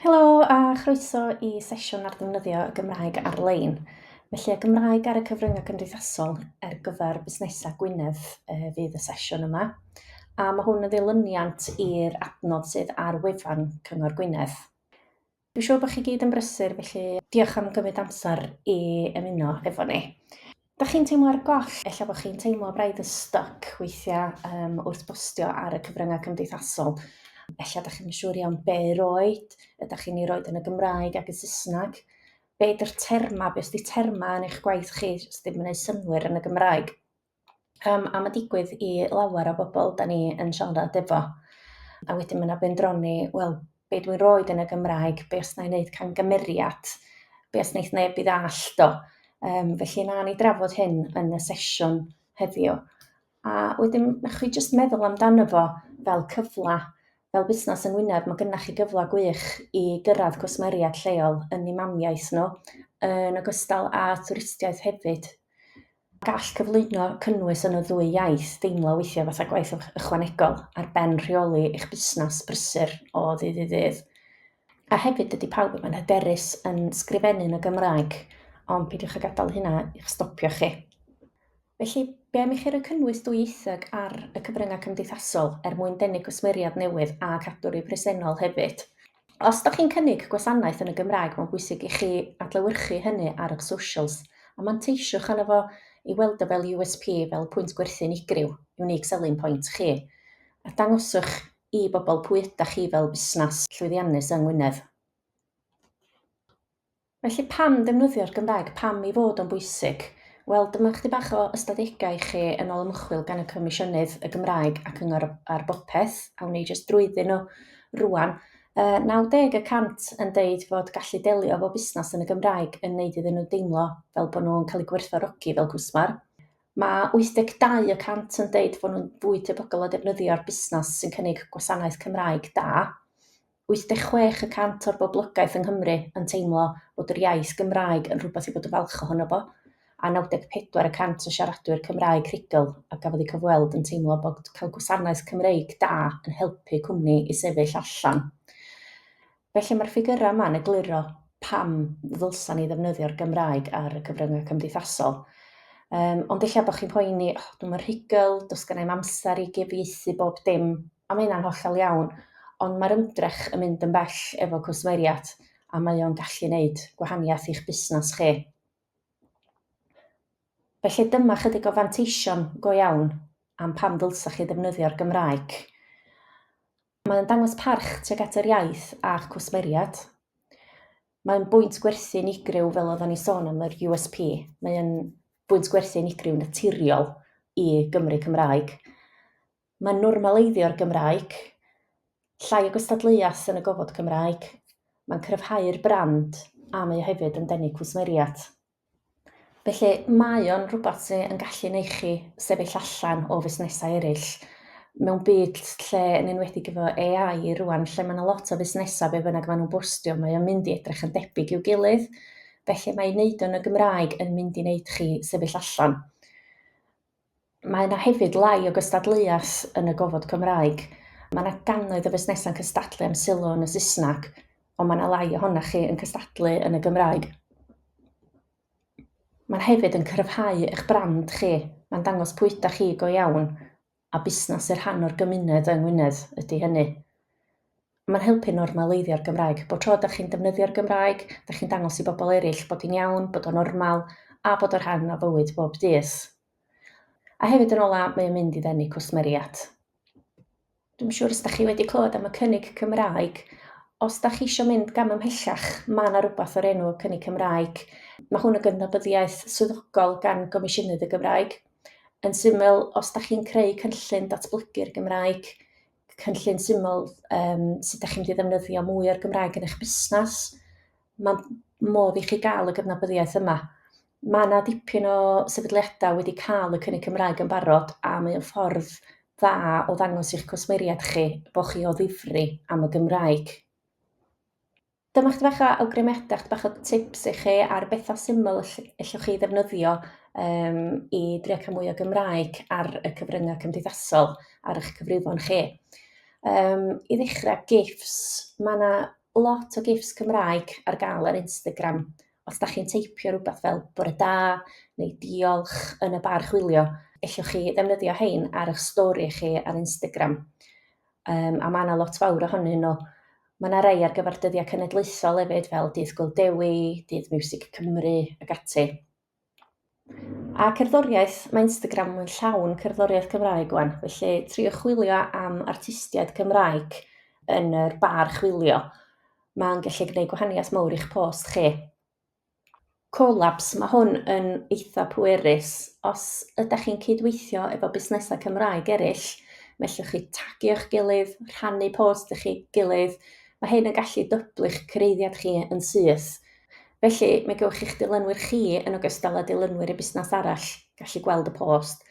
Helo a chroeso i sesiwn ar ddefnyddio y Gymraeg ar-lein. Felly, y Gymraeg ar y cyfryngau cymdeithasol ar gyfer busnesau Gwynedd uh, fydd y sesiwn yma. A mae hwn yn ddilyniant i'r adnodd sydd ar wefan Cyngor Gwynedd. Dwi'n siŵr bod chi gyd yn brysur, felly diolch am gymryd amser i ymuno efo ni. Da chi'n teimlo ar goll, efallai bod chi'n teimlo braidd yn stuck weithiau um, wrth bostio ar y cyfryngau cymdeithasol. Efallai da chi'n siŵr iawn be roed, ydych chi'n ei roed yn y Gymraeg ac yn Saesneg. Be ydy'r terma, be ydy terma yn eich gwaith chi sydd ddim yn ei synwyr yn y Gymraeg? Yym, a mae'n digwydd i lawer o bobl da ni yn siarad efo. A wedyn mae yna bendroni, wel, be dwi'n roed yn y Gymraeg, be os na i wneud camgymeriad, be os wneud neb i ddall do. Um, felly na ni drafod hyn yn y sesiwn heddiw. A wedyn, na chi jyst meddwl amdano fo fel cyfle, fel busnes yng Ngwynedd, mae gynnach chi gyfle gwych i gyrraedd cwsmeriaid lleol yn ei mamiaeth nhw, yn ogystal â twristiaeth hefyd. Gall cyflwyno cynnwys yn y ddwy iaith deimlo weithiau fatha gwaith ychwanegol ar ben rheoli eich busnes brysur o ddydd i ddydd. A hefyd, dydy pawb ddim yn hyderus yn sgrifennu yn y Gymraeg, ond peidiwch â gadael hynna i'ch stopio chi. Felly, be am i chi roi cynnwys dwyieithog ar y cyfryngau cymdeithasol er mwyn denu cwsmeriaid newydd a cadw rhai presennol hefyd? Os da chi'n cynnig gwasanaeth yn y Gymraeg, mae'n bwysig i chi adlewyrchu hynny ar eich socials, a manteisiwch arno fo i weld o fel USP, fel pwynt gwerthu unigryw, unique selling point, chi, a dangoswch i bobl pwy ydych chi fel busnes llwyddiannus yng Ngwynedd. Felly pam ddefnyddio'r Gymraeg? Pam ei fod o'n bwysig? Wel, dyma chydig bach o ystadegau i chi yn ôl ymchwil gan y Comisiynydd, y Gymraeg a Cyngor ar Bopeth. Awn ni jyst drwyddyn nhw rwan. Yy 90 y cant yn deud fod gallu delio efo busnes yn y Gymraeg yn wneud iddyn nhw deimlo fel bod nhw'n cael eu gwerthfawrogi fel cwsmer. Mae 82 y cant yn deud fod nhw'n fwy tebygol o ddefnyddio'r busnes sy'n cynnig gwasanaeth Cymraeg da. 86 y cant o'r boblogaeth yng Nghymru yn teimlo bod yr iaith Gymraeg yn rhywbeth i fod yn falch ohono fo, a 94 y cant o siaradwyr Cymraeg rhugl a gafodd eu cyfweld yn teimlo bod cael gwasanaeth Cymreig da yn helpu cwmni i sefyll allan. Felly mae'r ffigyrau yma'n egluro pam ddylsa ni ddefnyddio'r Gymraeg ar y cyfryngau cymdeithasol. Um, ond illa bod chi'n poeni, oh, dwi'n rhugl, dos gen i'm amser i gyfieithu bob dim, A mae hynna'n hollol iawn, ond mae'r ymdrech yn mynd yn bell efo cwsmeriaid a mae o'n gallu gwneud gwahaniaeth i'ch busnes chi. Felly dyma chydig o fanteision go iawn am pam ddylsech chi ddefnyddio'r Gymraeg. Mae o'n dangos parch tuag at yr iaith a'ch cwsmeriaid. Mae'n bwynt gwerthu unigryw fel oedden ni sôn am yr USP. Mae'n bwynt gwerthu unigryw naturiol i Gymru Cymraeg. Mae normaleiddio'r Gymraeg, llai o gystadleuaeth yn y gofod Cymraeg, mae'n cryfhau'r brand a mae o hefyd yn denu cwsmeriaid. Felly, mae o'n rhywbeth sydd yn gallu neu chi sefyll allan o fusnesau eraill. Mewn byd lle, yn enwedig efo AI rwan, lle mae yna lot o fusnesau be fynnag maen nhw'n bwstio, mae o'n mynd i edrych yn debyg i'w gilydd. Felly mae wneud o'n y Gymraeg yn mynd i wneud chi sefyll allan. Mae yna hefyd lai o gystadleuaeth yn y gofod Cymraeg. Mae yna gannoedd o fusnesau'n cystadlu am sylw yn y Saesneg, ond mae yna lai ohonoch chi yn cystadlu yn y Gymraeg. Mae'n hefyd yn cryfhau eich brand chi, mae'n dangos pwy ydych chi go iawn, a busnes i'r rhan o'r gymuned yng Ngwynedd ydy hynny. Mae'n helpu normaleiddio'r Gymraeg. Bob tro dych chi'n defnyddio'r Gymraeg, dych chi'n dangos i bobl eraill bod hi'n iawn, bod o'n normal, a bod o'n rhan o fywyd bob dydd. A hefyd yn ola, mae o'n mynd i ddenu cwsmeriaid. Dwi'n siŵr os da chi wedi clywed am y cynnig Cymraeg, os da chi eisiau mynd gam ymhellach, mae yna rhywbeth o'r enw y cynnig Cymraeg. Mae hwn yn gydnabyddiaeth swyddogol gan Gomisiynydd y Gymraeg. Yn syml, os da chi'n creu cynllun datblygu'r Gymraeg, cynllun syml um, sut ydych chi'n mynd i ddefnyddio mwy o'r Gymraeg yn eich busnes, mae modd i chi gael y gydnabyddiaeth yma. Mae yna dipyn o sefydliadau wedi cael y cynnig Cymraeg yn barod a mae o'n ffordd dda o ddangos i'ch cwsmeriaid chi bod chi o ddifri am y Gymraeg. Dyma chydig bach o awgrymiadau, chydig bach o tips i chi ar bethau syml allwch chi ddefnyddio um, i drio cael mwy o Gymraeg ar y cyfryngau cymdeithasol ar eich cyfrifon chi. Um, I ddechrau, GIFs. Mae yna lot o GIFs Cymraeg ar gael ar Instagram. Os da chi'n teipio rhywbeth fel bore da neu diolch yn y bar chwilio, allwch chi ddefnyddio hein ar eich stori chi ar Instagram. um, a mae yna lot fawr ohonyn nhw. Mae yna rai ar gyfer dyddiau cenedlaethol hefyd, fel Dydd Gwyl Dewi, Dydd Music Cymru ac ati. A cerddoriaeth, mae Instagram yn llawn cerddoriaeth Cymraeg wan, felly trio chwilio am artistiaid Cymraeg yn yr bar chwilio. Mae'n gallu gwneud gwahaniaeth mawr i'ch post chi. Collabs, mae hwn yn eitha pwerus. Os ydych chi'n cydweithio efo busnesau Cymraeg eraill, mae lle chi tagio'ch gilydd, rhannu post eich gilydd, mae hyn yn gallu dyblu'ch cyraeddiad chi yn syth. Felly, mae gewch chi'ch dilynwyr chi yn ogystal â dilynwyr y busnes arall gallu gweld y post,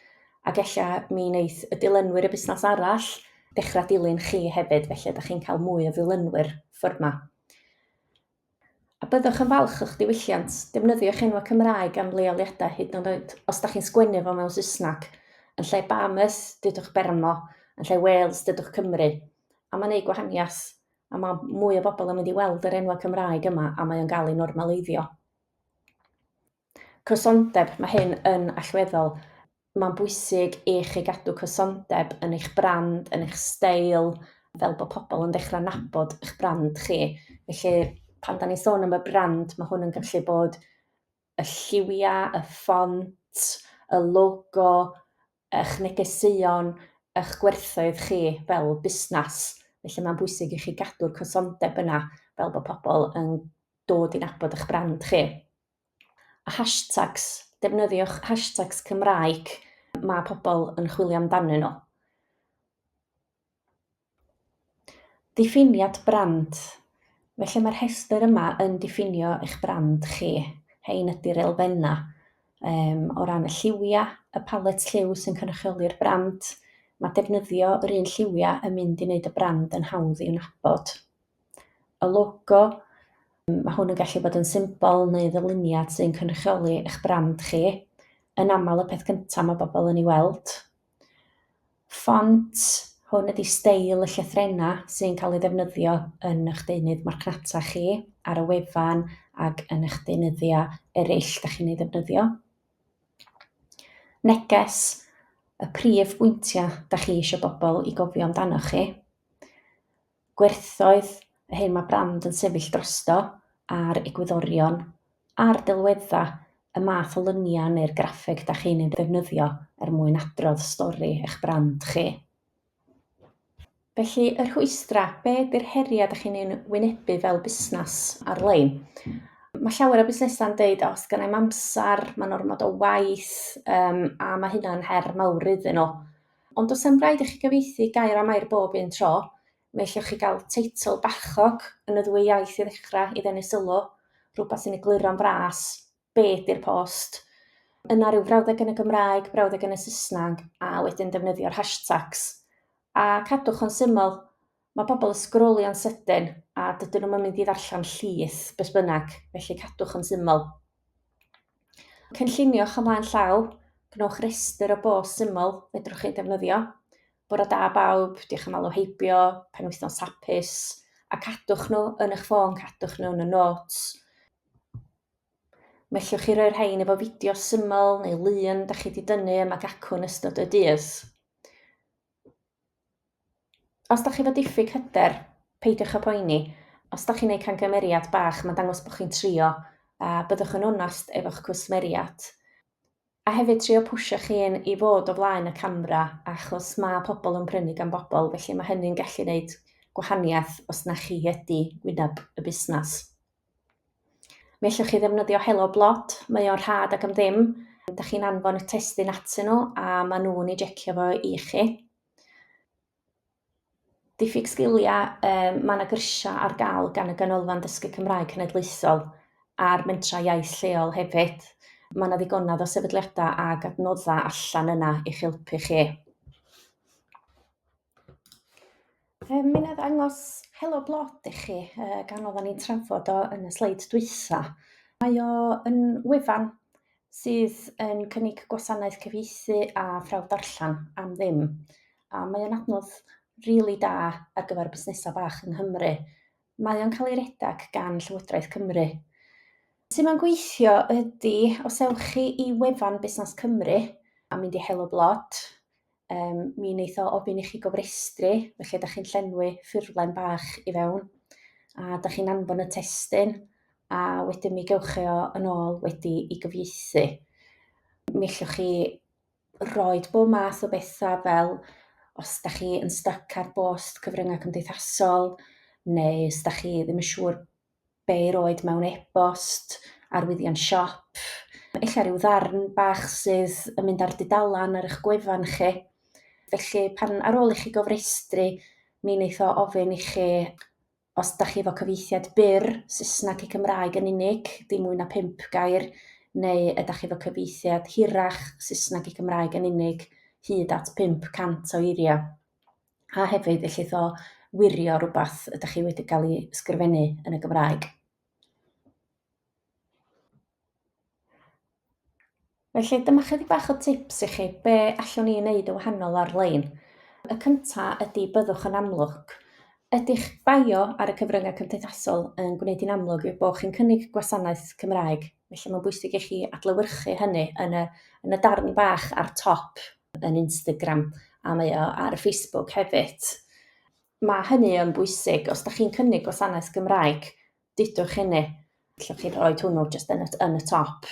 ac ella mi wneith y dilynwyr y busnes arall ddechrau dilyn chi hefyd, felly ydych chi'n cael mwy o ddilynwyr ffordd 'ma. A byddwch yn falch o'ch diwylliant? Defnyddiwch enwau Cymraeg am leoliadau hyd yn oed os da chi'n sgwennu fo mewn Saesneg. Yn lle Bahamas, dudwch Bermo, yn lle Wales, dudwch Cymru. A mae'n eu gwahaniaeth. A mae mwy o bobl yn mynd i weld yr enwau Cymraeg yma a mae o'n cael ei normaleiddio. Cysondeb, mae hyn yn allweddol. Mae'n bwysig i chi gadw cysondeb yn eich brand, yn eich steil, fel bod pobl yn dechrau nabod eich brand chi. Felly, pan da ni'n sôn am y brand, mae hwn yn gallu bod y lliwiau, y ffont, y logo, eich negeseuon, eich gwerthoedd chi fel busnes. Felly mae'n bwysig i chi gadw'r cysondeb yna fel bod pobl yn dod i nabod eich brand chi. Hashtags, defnyddiwch hashtags Cymraeg mae pobl yn chwilio amdanyn nhw. Diffiniad brand. Felly mae'r rhestr yma yn diffinio eich brand chi. Hein ydy'r elfennau um, o ran y lliwiau, y palet lliw sy'n cynrychioli'r brand. Mae defnyddio yr un lliwiau yn mynd i wneud y brand yn hawdd i'w nabod. y logo, mae hwn yn gallu bod yn symbol neu ddyluniad sy'n cynrychioli eich brand chi, yn aml y peth cyntaf mae bobl yn ei weld. Ffont, hwn ydy steil y llythrennau sy'n cael ei ddefnyddio yn eich deunydd marchnata chi, ar y wefan ac yn eich deunyddiau eraill da chi'n ei ddefnyddio. Neges, y prif bwyntiau da chi eisiau bobl i gofio amdanoch chi. gwerthoedd, yr hyn mae brand yn sefyll drosto, a'r egwyddorion a'r delweddau, y math o luniau neu'r graffeg da chi'n ei ddefnyddio er mwyn adrodd stori eich brand chi. Felly, y rhwystrau, be ydy'r heriau da chi'n ei wynebu fel busnes ar-lein? Mae llawer o busnesau'n deud, os gan i'm amser, mae'n ormod o waith, um, a mae hynna'n her mawr iddyn nhw. Ond does am raid i chi gyfieithu gair am air bob un tro. Mi allwch chi gael teitl bachog yn y ddwy iaith i ddechrau i ddenu sylw, rhywbeth sy'n egluro'n fras, be ydy'r post? Yna rhyw frawddeg yn y Gymraeg, brawddeg yn y Saesneg, a wedyn defnyddio'r hashtags. A cadwch o'n syml. Mae pobl yn sgrolio'n sydyn a dydyn nhw'm yn mynd i ddarllen llys beth bynnag, felly cadwch yn syml. Cynlluniwch ymlaen llaw, gwnewch restr o bost syml fedrwch chi defnyddio. Bore da bawb, diolch am alw heibio, penwythnos hapus, a cadwch nhw yn eich ffôn, cadwch nhw yn y notes. Mellwch chi roi'r rhain efo fideo syml neu lun da chi wedi dynnu yma gacwn ystod y dydd. Os da chi efo diffyg hyder, peidiwch â poeni. Os da chi'n neud camgymeriad bach, mae'n dangos bod chi'n trio, a byddwch yn onast efo'ch cwsmeriad. A hefyd trio pwsio chi un i fod o flaen y camera, achos mae pobl yn prynu gan bobl, felly mae hynny'n gallu neud gwahaniaeth os na chi ydi wyneb y busnes. Mi allwch chi ddefnyddio Helo Blot, mae o'n rhad ac am ddim. Da chi'n anfon y testun atyn nhw a maen nhw'n ei jecio fo i chi. Diffyg sgiliau, um, mae yna gyrsiau ar gael gan y Ganolfan Dysgu Cymraeg Cenedlaethol a'r mentrau iaith lleol hefyd. Mae yna ddigonedd o sefydliadau ac adnoddau allan yna i'ch helpu chi. Fe mi wna i ddangos Helo Blod i chi, yy gan oeddan ni'n trafod o yn y sleid dwytha. Mae o yn wefan sydd yn cynnig gwasanaeth cyfieithu a phrawf darllen am ddim, a mae o'n adnodd rili da ar gyfer busnesau bach yng Nghymru. Mae o'n cael ei redeg gan Llywodraeth Cymru. Sut mae'n gweithio ydi, os ewch chi i wefan Busnes Cymru a mynd i Helo Blod, um, mi wneith o ofyn i chi gofrestru, felly ydych chi'n llenwi ffurflen bach i fewn, a ydych chi'n anfon y testyn, a wedyn mi gewch chi o yn ôl wedi i gyfieithu. Mi allwch chi roed bob math o bethau fel os da chi yn styc ar bost cyfryngau cymdeithasol, neu os da chi ddim yn siŵr be roed mewn e-bost, arwyddion siop, ella rhyw ddarn bach sydd yn mynd ar dudalan ar eich gwefan chi. Felly pan ar ôl i chi gofrestru mi wneith o ofyn i chi os da chi efo cyfieithiad byr, Saesneg i Cymraeg yn unig, dim mwy na pump gair, neu ydach chi efo cyfieithiad hirach, Saesneg i Gymraeg yn unig, hyd at 500 o eiriau. a hefyd ellith o wirio rhywbeth ydych chi wedi cael ei ysgrifennu yn y Gymraeg. Felly dyma chydig bach o tips i chi be allwn ni wneud y wahanol ar-lein. Y cyntaf ydy byddwch yn amlwg. Ydych bio ar y cyfryngau cymdeithasol yn gwneud i'n amlwg yw bod chi'n cynnig gwasanaeth Cymraeg, felly mae'n bwysig i chi adlewyrchu hynny yn y, yn y darn bach ar top yn Instagram a mae o ar Facebook hefyd. Mae hynny yn bwysig, os da chi'n cynnig gwasanaeth Gymraeg, dudwch hynny. Lle chi'n rhoi hwnnw jyst yn y, yn y top.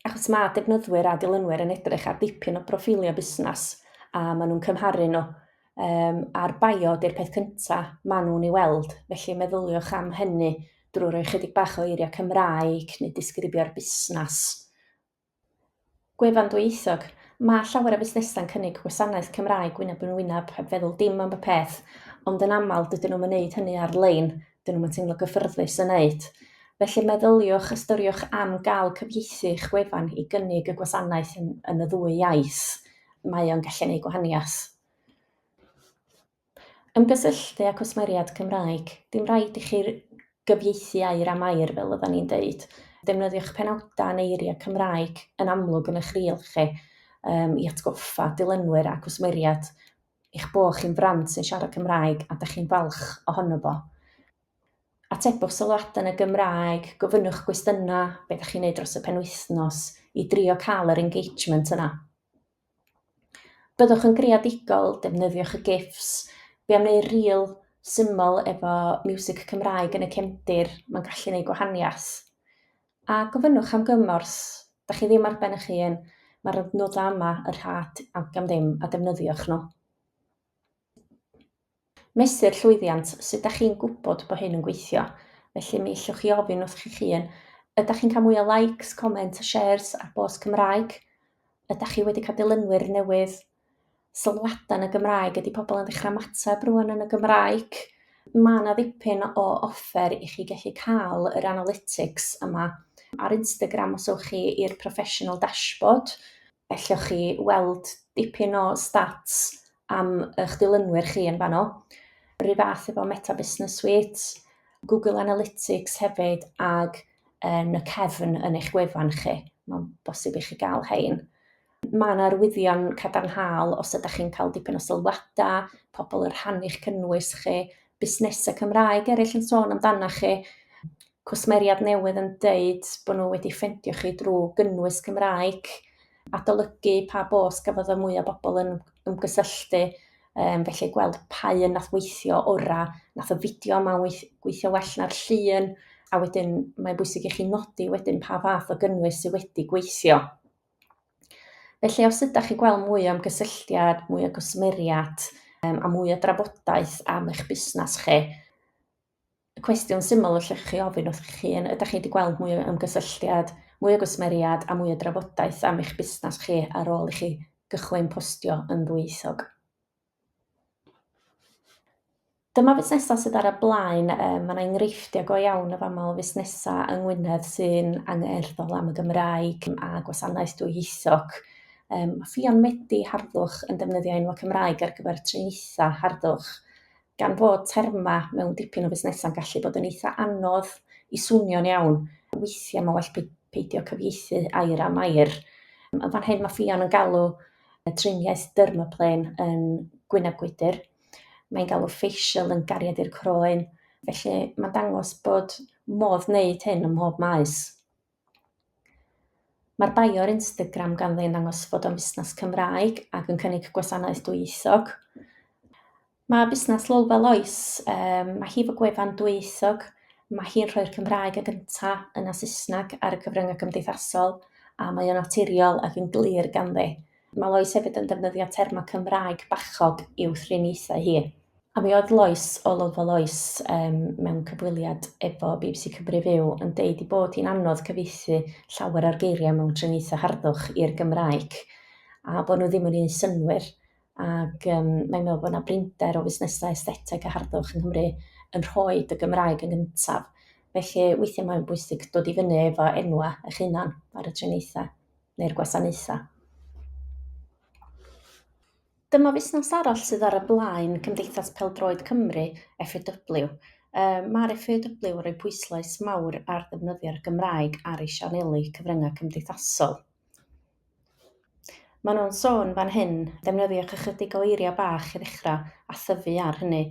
Achos mae defnyddwyr a dilynwyr yn edrych ar dipyn o broffiliau busnes a maen nhw'n cymharu nhw. Um, a'r bio di'r peth cyntaf maen nhw'n ei weld, felly meddyliwch am hynny drwy roi chydig bach o eiriau Cymraeg neu disgrifio'r busnes Gwefan ddwyieithog. Mae llawer o fusnesau'n cynnig gwasanaeth Cymraeg wyneb yn wyneb, heb feddwl dim am y peth, ond yn aml dydyn nhw'm yn neud hynny ar-lein, dydyn nhw'm yn teimlo gyffyrddus yn neud. Felly meddyliwch, ystyriwch am gael cyfieithu'ch gwefan i gynnig y gwasanaeth yn y ddwy iaith, mae o'n gallu neud gwahaniath. Ymgysylltu â cwsmeriaid Cymraeg, dim rhaid i chi gyfieithu air am air fel oeddan ni'n deud. Defnyddiwch penawdau yn eiriau Cymraeg yn amlwg yn eich rîl chi i atgoffa dilynwyr a cwsmeriaid eich bod chi'n frand sy'n siarad Cymraeg a 'da chi'n falch ohono fo. Atebwch sylwadau yn y Gymraeg, gofynnwch gwestiynau, be 'da chi'n neud dros y penwythnos, i drio cael yr engagement yna. Byddwch yn greadigol, defnyddiwch y gifs. Fi am wneud reel syml efo miwsig Cymraeg yn y cefndir, mae'n gallu gwneud gwahaniaeth. A gofynnwch am gymorth, da chi ddim ar ben eich hun, mae'r adnoddau yma yn rhad ac am ddim a defnyddiwch nhw. Mesur llwyddiant, sut da chi'n gwybod bod hyn yn gweithio? Felly mi ellwch chi ofyn wrth chi'ch hun, ydach chi'n cael mwy o likes, comments a shares ar bost Cymraeg? Ydach chi wedi cael dilynwyr newydd? Sylwadau yn y Gymraeg, ydy pobl yn dechrau ymateb rwan yn y Gymraeg? Mae yna ddipyn o offer i chi gallu cael yr analytics yma. Ar Instagram os ewch chi i'r professional dashboard, ellwch chi weld dipyn o stats am eich dilynwyr chi yn fan hyn. Rhyw fath efo Meta Business Suite, Google Analytics hefyd ac yn y cefn yn eich gwefan chi. Mae'n bosib i chi gael hein. Mae yna arwyddion cadarnhaol os ydych chi'n cael dipyn o sylwadau, pobl yn rhannu'ch cynnwys chi, busnesau Cymraeg eraill yn sôn amdana chi. cwsmeriad newydd yn deud bod nhw wedi ffendio chi drwy gynnwys Cymraeg, adolygu pa bos gafodd y mwya bobl yn ymgysylltu, um, felly gweld pa un nath weithio ora, nath y fideo yma weithio well na'r llun, a wedyn mae'n bwysig i chi nodi wedyn pa fath o gynnwys sydd wedi gweithio. Felly os ydych chi'n gweld mwy o ymgysylltiad, mwy o gwsmeriad um, a mwy o drafodaeth am eich busnes chi, cwestiwn syml allwch chi ofyn wrth chi hun, ydych chi wedi gweld mwy o ymgysylltiad, mwy o gwsmeriad a mwy o drafodaeth am eich busnes chi ar ôl i chi gychwyn postio yn ddwyieithog? Dyma fusnesau sydd ar y blaen, mae yna enghreifftiau go iawn o fama o fusnesau yng Ngwynedd sy'n angerddol am y Gymraeg a gwasanaeth dwyieithog. Mae Ffion Medi harddwch yn defnyddio enwau Cymraeg ar gyfer triniaethau harddwch. gan fod termau mewn dipyn o fusnesau'n gallu bod yn eitha anodd i swnio'n iawn, weithiau mae'n well peidio cyfieithu air am air. Yn fan hyn mae Ffion yn galw triniaeth dermaplane yn gwyneb gwydr, mae'n galw facial yn gariad i'r croen, felly mae'n dangos bod modd wneud hyn ym mhob maes. Mae'r bio ar Instagram ganddi yn dangos fod o'n fusnes Cymraeg ac yn cynnig gwasanaeth dwyieithog. Mae busnes Lowell fel oes, um, mae hi fy gwefan dwyieithog, mae hi'n rhoi'r Cymraeg y gynta yna Saesneg ar y cyfryngau cymdeithasol, a mae o'n naturiol ac yn glir ganddi. Mae Lois hefyd yn defnyddio termau Cymraeg bachog i'w thriniaethau hi. A mi oedd Lois o Lolfa Lois um, mewn cyfweliad efo BBC Cymru Fyw yn deud i bod hi'n anodd cyfeithi llawer o'r geiriau mewn triniaethau harddwch i'r Gymraeg a bod nhw ddim yn ei synwyr ac um, mae'n meddwl bod yna brinder o fusnesau estheteg a harddwch yng Nghymru yn rhoi y Gymraeg yn gyntaf. Felly weithiau mae'n bwysig dod i fyny efo enwau eich hunan ar y triniaethau. neu'r gwasanaethau. Dyma fusnes arall sydd ar y blaen Cymdeithas Pêl-droed Cymru, FAW. Mae'r FAW yn rhoi pwyslais mawr ar ddefnyddio'r Gymraeg ar ei sianeli cyfryngau cymdeithasol. Maen nhw'n sôn fan hyn, defnyddiwch ychydig o eiriau bach i ddechrau a thyfu ar hynny.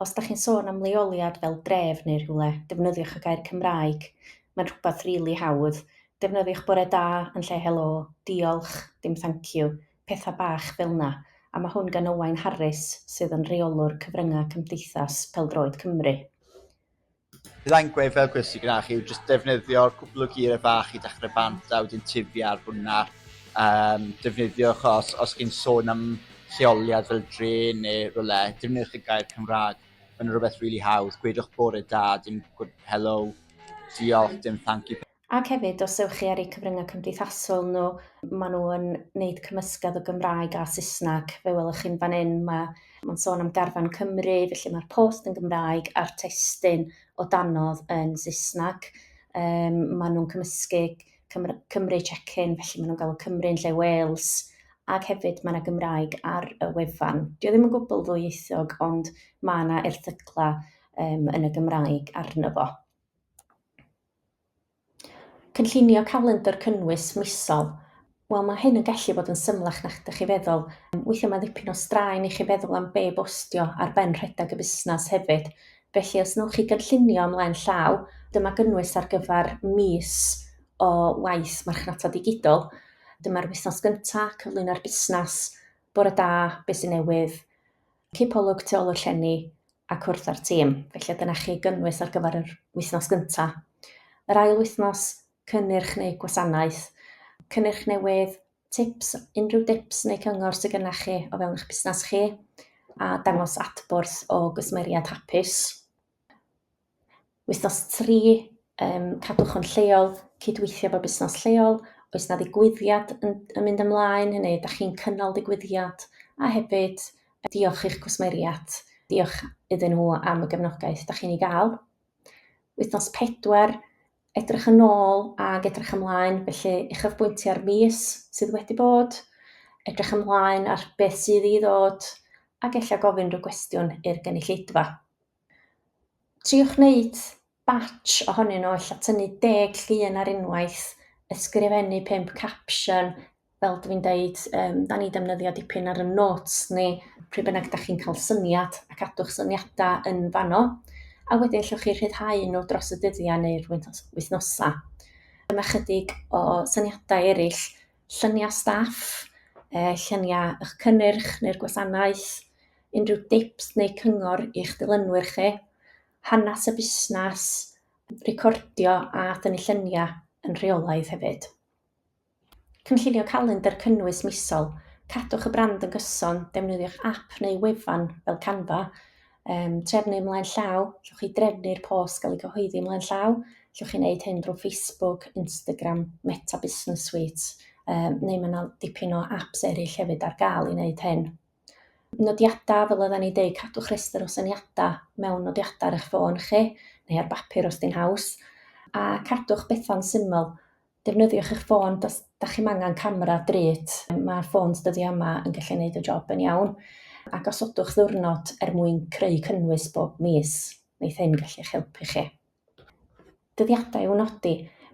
Os da chi'n sôn am leoliad fel dref neu rhywle, defnyddiwch y gair Cymraeg. Mae'n rhywbeth rili hawdd. Defnyddiwch bore da yn lle helo, diolch, dim thanciw, pethau bach fel 'na, a mae hwn gan Owain Harris, sydd yn Rheolwr Cyfryngau Cymdeithas Pêl-droed Cymru. Byddai'n gweud fel gwrs i gynnach yw jyst defnyddio cwpl o geiriau bach i dechrau bant a wedyn tifi ar hwnna. Um, defnyddiwch os, os chi'n sôn am lleoliad fel dre neu rhywle, defnyddiwch y gair Cymraeg. Mae'n rhywbeth rili really hawdd. Gwedwch bore da, dim hello, diolch, dim thank you. Ac hefyd, os ewch chi ar eu cyfryngau cymdeithasol nhw, maen nhw yn wneud cymysgedd o Gymraeg a Saesneg. Fe welwch chi'n fan hyn, mae, mae'n sôn am garfan Cymru, felly mae'r post yn Gymraeg a'r testun o danodd yn Saesneg. Um, maen nhw'n cymysgu Cymru, Cymru check-in, felly maen nhw'n galw Cymru yn lle Wales, ac hefyd mae yna Gymraeg ar y wefan. Dio ddim yn gwbl ddwyieithog, ond mae yna erthyglau um, yn y Gymraeg arno fo. Cynllunio calendr cynnwys misol. Wel, mae hyn yn gallu bod yn symlach na'ch dych chi feddwl. Weithiau mae ddipyn o straen i chi feddwl am be bostio ar ben rhedeg y busnes hefyd. Felly, os wnewch chi gynllunio ymlaen llaw, dyma gynnwys ar gyfer mis o waith marchnata digidol. Dyma'r wythnos gyntaf, cyflwyno'r busnes, bore da, beth sy'n newydd, cipolwg tu ôl i'r llenni a cwrdd â'r tîm. Felly dyna chi gynnwys ar gyfer yr wythnos gyntaf. Yr ail wythnos, cynnyrch neu gwasanaeth. Cynnyrch newydd, tips, unrhyw dips neu cyngor sydd gyda chi o fewn eich busnes chi a dangos adborth o gwsmeriad hapus. Wythnos tri, yym cadwch o'n lleol, cydweithio efo busnes lleol, oes 'na ddigwyddiad yn yn mynd ymlaen, hynny yw dach chi'n cynnal digwyddiad, a hefyd diolch i'ch cwsmeriaid, diolch iddyn nhw am y gefnogaeth dach chi'n ei gael. Wythnos pedwar, edrych yn ôl ag edrych ymlaen, felly uchafbwyntio ar fis sydd wedi bod, edrych ymlaen ar beth sydd i ddod, ac ella gofyn rhyw gwestiwn i'r gynulleidfa. triwch wneud batsh ohonyn nhw, ella tynnu deg llun ar unwaith, ysgrifennu pump capsiwn, fel dwi'n deud, um, da ni defnyddio dipyn ar y notes ni, pryd bynnag da chi'n cael syniad ac adwch syniadau yn fanno, a wedyn llwch chi rhyddhau nhw dros y dyddiau neu'r wythnosau. Dyma chydig o syniadau eraill, lluniau staff, lluniau eich cynnyrch neu'r gwasanaeth, unrhyw dips neu cyngor i'ch dilynwyr chi, hanes y busnes, recordio a thynnu lluniau yn rheolaidd hefyd. Cynllunio calendr cynnwys misol, cadwch y brand yn gyson, defnyddiwch app neu wefan fel Canva, um, trefnu ymlaen llaw, llwch chi drefnu'r post gael ei gyhoeddi ymlaen llaw, llwch chi wneud hyn drwy Facebook, Instagram, Meta Business Suite, um, neu mae yna dipyn o apps eraill hefyd ar gael i wneud hyn. nodiadau, fel oedden ni'n deud, cadwch rhestr o syniadau mewn nodiadau ar eich ffôn chi, neu ar bapur os di'n haws, a cadwch bethau'n syml. Defnyddiwch eich ffôn, os da chi'n angen camera drud, mae'r ffôns dyddiau yma yn gallu gwneud y job yn iawn, a gosodwch ddiwrnod er mwyn creu cynnwys bob mis, wneith hyn gallu eich helpu chi. Dyddiadau i'w nodi,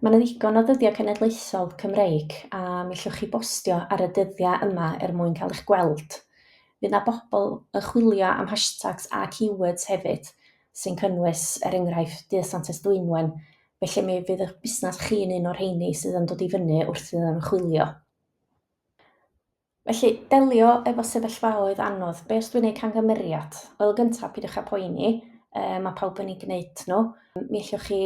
Mae 'na ddigon o ddyddiau cenedlaethol Cymreig a mi ellwch chi bostio ar y dyddiau yma er mwyn cael eich gweld. Fydd 'na bobl yn chwilio am hashtags a keywords hefyd sy'n cynnwys, er enghraifft, Dydd Santes Dwynwen, felly mi fydd eich busnes chi'n un o'r rheini sydd yn dod i fyny wrth iddyn nhw chwilio. Felly, delio efo sefyllfaoedd anodd. Be os dwi'n gwneud cangymeriad? Wel, gyntaf, pidwch â poeni, um, mae pawb yn ei gwneud nhw. Mi allwch chi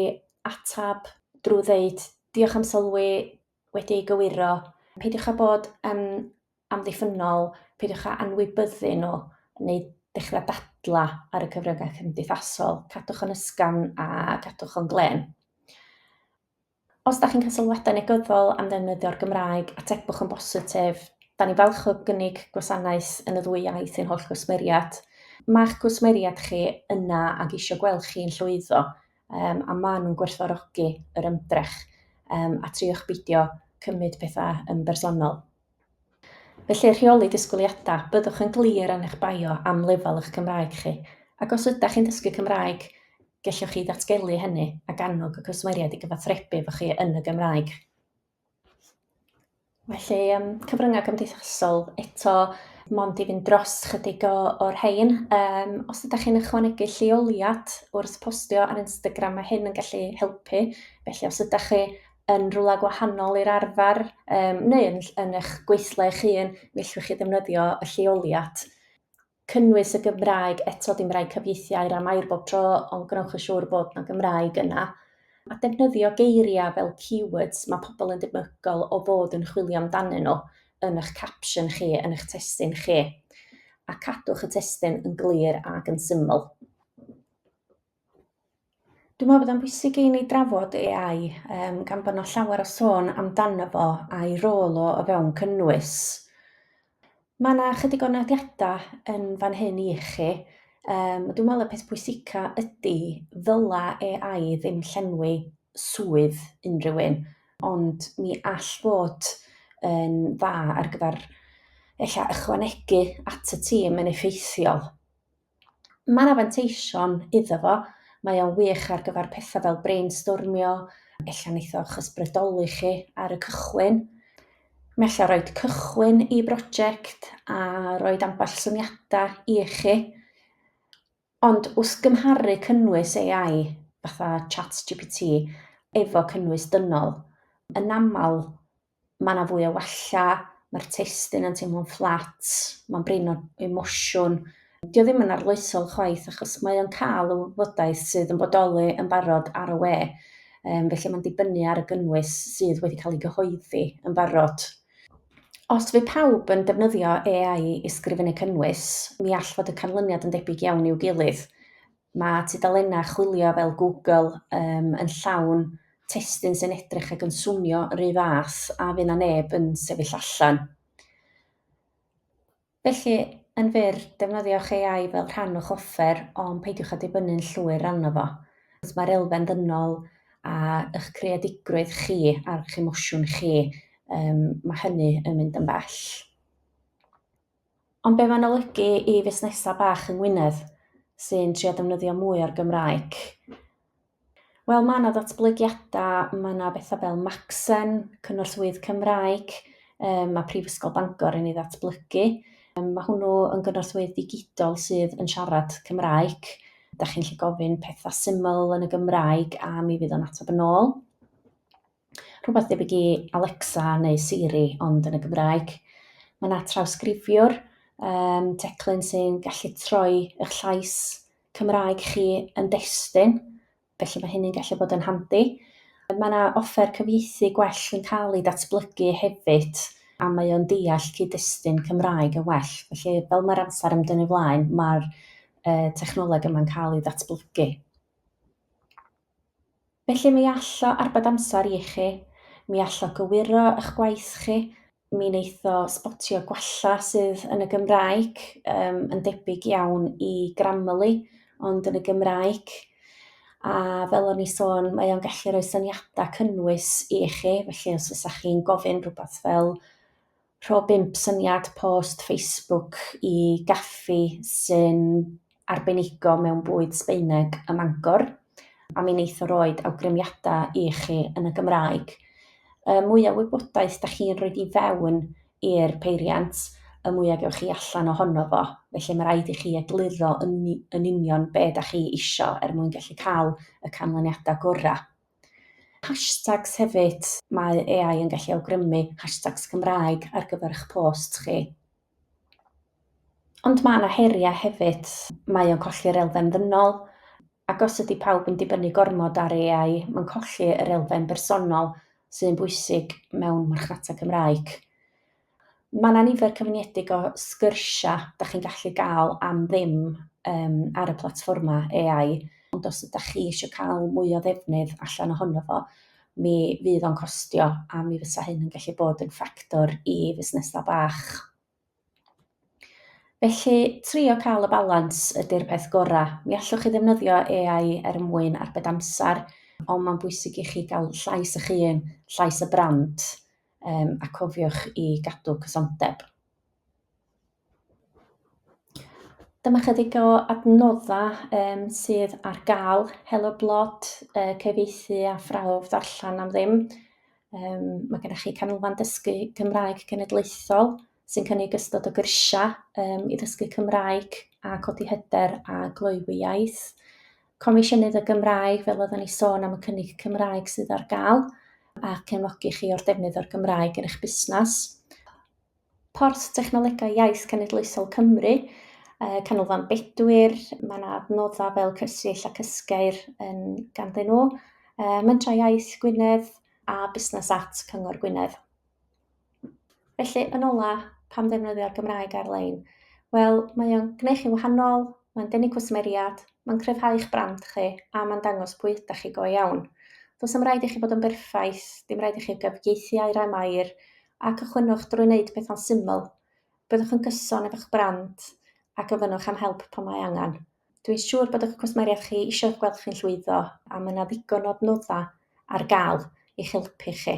atab drwy ddeud, diolch am sylwi, wedi ei gywiro. Peidiwch â bod yn amddiffynol, peidiwch â anwybyddu nhw, neu dechrau dadla ar y cyfryngau cymdeithasol. Cadwch yn ysgafn a cadwch o'n glen. Os da chi'n cael sylwadau negyddol am ddefnyddio'r Gymraeg, atebwch yn bositif. Da ni'n falch o gynnig gwasanaeth yn y ddwy iaith i'n holl gwsmeriad. Mae'ch cwsmeriad chi yna ac eisiau gweld chi'n llwyddo, um, a maen nhw'n gwerthfawrogi yr ymdrech, um, a triwch beidio cymryd pethau yn bersonol. Felly, rheoli disgwyliadau, byddwch yn glir yn eich bio am lefel eich Cymraeg chi, ac os ydych chi'n dysgu Cymraeg, gellwch chi ddatgelu hynny ac annog y cwsmeriaid i gyfathrebu efo chi yn y Gymraeg. Felly, um, cyfryngau cymdeithasol, eto, mond i fynd dros chydig o, o'r rhain. Um, os ydych chi'n ychwanegu lleoliad wrth postio ar Instagram, mae hyn yn gallu helpu. Felly, os ydych chi yn rhywle gwahanol i'r arfer um, neu yn, yn eich gweithle eich hun, mi allwch chi ddefnyddio y lleoliad. Cynnwys y Gymraeg eto dim rhaid cyfieithiau am air bob tro, ond gwnewch yn siŵr bod yna Gymraeg yna. A defnyddio geiriau fel keywords mae pobl yn debygol o fod yn chwilio amdanyn nhw yn eich capsiwn chi, yn eich testyn chi. A cadwch y testyn yn glir ac yn syml. Dwi'n meddwl bod o'n bwysig i ni drafod AI um, gan bod yna llawer o sôn amdano fo a'i rôl o o fewn cynnwys. Mae yna chydig o nodiadau yn fan hyn i chi. Um, dwi'n meddwl y peth pwysica ydy ddyla AI ddim llenwi swydd unrhyw un, ond mi all fod yn dda ar gyfer ella ychwanegu at y tîm yn effeithiol. Mae yna fanteision iddo fo, mae o'n wych ar gyfer pethau fel brainstormio, ella wneith o'ch ysbrydoli chi ar y cychwyn. Mae ella rhoi cychwyn i brosiect a rhoi ambell syniadau i chi. Ond wrth gymharu cynnwys AI, fatha ChatGPT, efo cynnwys dynol, yn aml mae yna fwy o wella, mae'r testun yn teimlo'n fflat, mae'n brin o emosiwn. Dio ddim yn arloesol chwaith achos mae o'n cael y wybodaeth sydd yn bodoli yn barod ar y we, um, felly mae'n dibynnu ar y gynnwys sydd wedi cael ei gyhoeddi yn barod. Os fydd pawb yn defnyddio AI i sgrifennu cynnwys, mi all fod y canlyniad yn debyg iawn i'w gilydd. Mae tudalennau chwilio fel Google um, yn llawn testun sy'n edrych ac yn swnio yr un fath a fy na neb yn sefyll allan. Felly, yn fyr, defnyddiwch AI fel rhan o'ch offer, ond peidiwch â dibynnu'n llwyr arno fo. Mae'r elfen ddynol a eich creadigrwydd chi a'r emosiwn chi, um, mae hynny yn mynd yn bell. Ond be mae'n olygu i fusnesau bach yng Ngwynedd sy'n trio defnyddio mwy o'r Gymraeg? Wel, mae yna ddatblygiadau, mae yna bethau fel Macsen, cynorthwyydd Cymraeg, um, mae Prifysgol Bangor yn ei ddatblygu. Um, mae hwnnw yn gynorthwyydd digidol sydd yn siarad Cymraeg. Da chi'n lle gofyn pethau syml yn y Gymraeg a mi fydd o'n ateb yn ôl. rhywbeth debyg i Alexa neu Siri, ond yn y Gymraeg. Mae yna trawsgrifiwr, um, teclyn sy'n gallu troi eich llais Cymraeg chi yn destun, felly mae hynny'n gallu bod yn handi. Mae yna offer cyfieithu gwell yn cael ei datblygu hefyd, a mae o'n deall cyd-destun Cymraeg yn well. Felly, fel mae'r amser yn dynnu flaen, mae'r uh, technoleg yma'n cael ei ddatblygu. Felly mi all o arbed amser i chi, mi all o gywiro ych gwaith chi, mi wneith o sbotio gwalla sydd yn y Gymraeg, um, yn debyg iawn i Grammarly, ond yn y Gymraeg. A fel o'n i sôn, mae o'n gallu rhoi syniadau cynnwys i chi, felly os fysa chi'n gofyn rhywbeth fel Rho bump syniad post Facebook i gaffi sy'n arbenigo mewn bwyd Sbaeneg ym Mangor, a mi wneith o roid awgrymiadau i chi yn y Gymraeg. Y mwya wybodaeth da chi'n rhoi i fewn i'r peiriant, y mwya gewch chi allan ohono fo, felly mae rhaid i chi egluro yn yn union be da chi isio er mwyn gallu cael y canlyniadau gorau. Hashtags hefyd, mae AI yn gallu awgrymu hashtags Cymraeg ar gyfer eich post chi. Ond mae yna heriau hefyd, mae o'n colli'r elfen ddynol, ac os ydy pawb yn dibynnu gormod ar AI, mae'n colli yr elfen bersonol sy'n bwysig mewn marchnata Cymraeg. Mae 'na nifer cyfyngedig o sgyrsiau dach chi'n gallu gael am ddim yym ar y platfformau AI, ond os ydach chi eisiau cael mwy o ddefnydd allan ohono fo, mi fydd o'n costio a mi fysa hyn yn gallu bod yn ffactor i fusnesau bach. Felly, trio cael y balans ydy'r peth gorau. Mi allwch chi ddefnyddio AI er mwyn arbed amser, ond mae'n bwysig i chi gael llais eich hun, llais y brand. um, a cofiwch i gadw cysondeb. Dyma chydig o adnoddau um, sydd ar gael, helo blot, uh, cyfeithi a phrawf ddarllen am ddim. Um, mae gennych chi canolfan dysgu Cymraeg Cenedlaethol, sy'n cynnig ystod o gyrsiau um, i ddysgu Cymraeg a codi hyder a gloywi iaith. Comisiynydd y Gymraeg, fel oedden ni sôn am y cynnig Cymraeg sydd ar gael, a cefnogi chi o'r defnydd o'r Gymraeg yn eich busnes. Porth Technolegau Iaith Cenedlaethol Cymru, uh, Canolfan Bedwyr, mae yna adnoddau fel Cysill ac Ysgeir yn ganddyn nhw, uh, Mentrau Iaith Gwynedd a Busnes At Cyngor Gwynedd. Felly, yn ola, pam ddefnyddio'r Gymraeg ar-lein? Wel, mae o'n gwneud chi'n wahanol, mae'n denu cwsmeriad, mae'n cryfhau eich brand chi, a mae'n dangos pwy ydych chi go iawn. Does am rhaid i chi fod yn berffaith, dim rhaid i chi gyfieithu air am air, a cychwynwch drwy wneud pethau'n syml. Byddwch yn gyson efo'ch brand a gofynnwch am help pan mae angen. Dwi'n siŵr bod eich cwsmeriad chi eisiau gweld chi'n llwyddo a mae yna ddigon o adnoddau ar gael i'ch helpu chi.